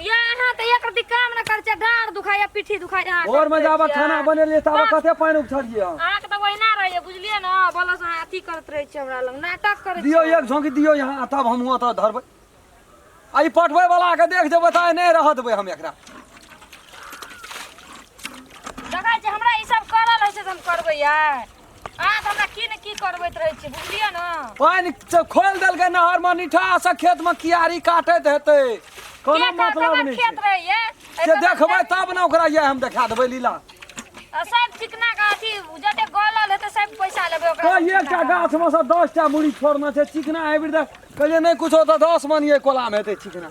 ये अहाँ तऽ एक रति काम न करै छियै डाँड़ दुखाइए पीठी दुखाइए अहाँ और मजा आबा खाना बनेलिए ताबे कते पानी उछड़िए अहाँ अहाँके तऽ ओहिना रहैए बुझलियै ने बोलस अहाँ अथी करैत रहै छियै हमरा लग नाटक करै दियो छियै एक झोंकी दियो यहाँ तब हम हुआ तो धरबै आ ई पटबै वाला के देख जेबै तऽ आइ नहि रह देबै हम एकरा देखै छियै हमरा ई सब करल होइ छै तऽ हम करबै यार अहाँ तऽ हमरा की ने की करबैत रहै छी बुझलियै ने पानि च- खोलि देलकै नहर मे निठा से खेत मे कियारी काटैत हेतै कोनो के कहत मतलब हमर नहि खेत छै रहैये से देखबै तब ने ओकरा ये हम देखा देबै लीला आ सब चिकना का अथी जते गलल हेतै सब पैसा लेबै ओकरा कोई से एकटा चिकना का। गाछ मे से दस टा मुड़ी छोड़ने छै चिकना हाइब्रिड कहलियै नहि कुछो तऽ दस मन ये कोला मे हेतै चिकना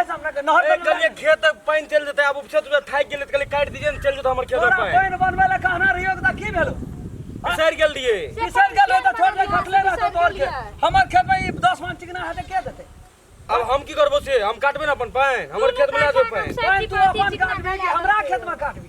ऐसा हमरा के नहर ए, बनवा कहलिए खेत पानी चल जेतै आब उपछत उपछत थाकि गेलै तऽ कहलिए काटि दीजिए ने चल जेतौ हमर खेत तोरा पानी पानि बनबै लए कहना रहियो तऽ की भेलो बिसरि गेल रहिए किसान गेल तऽ छोड़ दे खटले रहतो तोर के हमर खेत में ई 10 मन चिकना हेतै के देतै अब हम की करबो से हम काटबे ना अपन पानि हमर खेत में ना दो पानि पानि तू अपन काटबी कि हमरा खेत में काटबी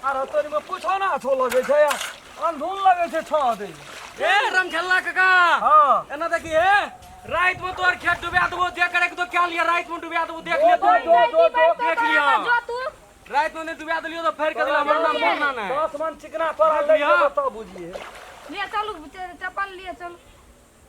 अरे तोरी में पूछो ना छो लगे छै यार अनधुन लगे छै छो दे ए रंग खेलना काका हां एना देखी हे रात में तोर खेत डुबा देबो जे करे के तो क्या लिया रात में डुबा देबो देख ले तू जो जो देख लिया जो तू रात में ने डुबा देलियो तो फेर कदला मरना मरना ना दस मन चिकना तोरा दे तो बुझिए ले चलू चप्पल लिए चलू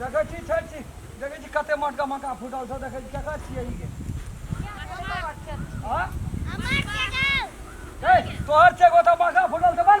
देखै छी छै छी देखै छी कते मोटका मक्का फूटल छौ देखै छी केकर छियै ई गे हँ ए तोहर छै गोटा मक्का फूटल छौ बड़